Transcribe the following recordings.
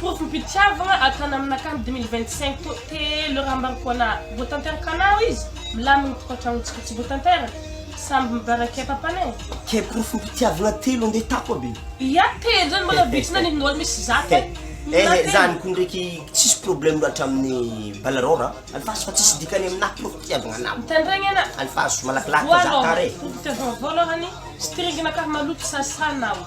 Porofo fitiavagna ataony aminakahy dimy mille vingt cinq to telo raha ambarako anahy vao tanteraka anao izy milamigny tokantragnontsika tsy vao tanteraka samby mibaraka e papana e. Ke porofo mpitiavagna telo ande tato aby e. Ia telo zany mbola vitsy na ny nol misy zato e. Ehe zany ko ndreky tsisy problème loatra aminy balaror a. Alefaso fa tsisy dikany aminahy porofo mpitiavagna anao. Mitandregny ana. Alefaso malakilaky fa za tara e. Porofo fitiavagna voalohany string nakahy maloto sasa anao.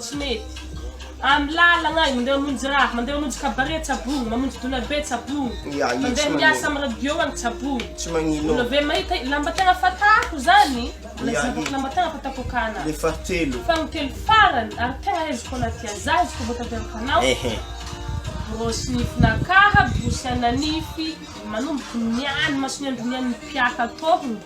Tsy mety. Amin'ny lalagna e, mandeha mamonjy raha, mandeha mamonjy cabaret Tsabogno, mamonjy dona be Tsabogno, Ia, ia, tsy mandeha manery. miasa amin'ny radio any Tsabogno. Tsy magnino. Mbola ve mahita lamba tegna fatako zany? Mbola Ia, zahavako ia. lamba tegna fatako akana. Le fahatelo. Fa ny telo farany ary tegna aiziko anaty aza izy koa vao tanteraka anao, Ehe. borosy nifin'akaha, borosy ana nify, manomboky ny any mason'ny andron'ny any mpiaha tôhogno,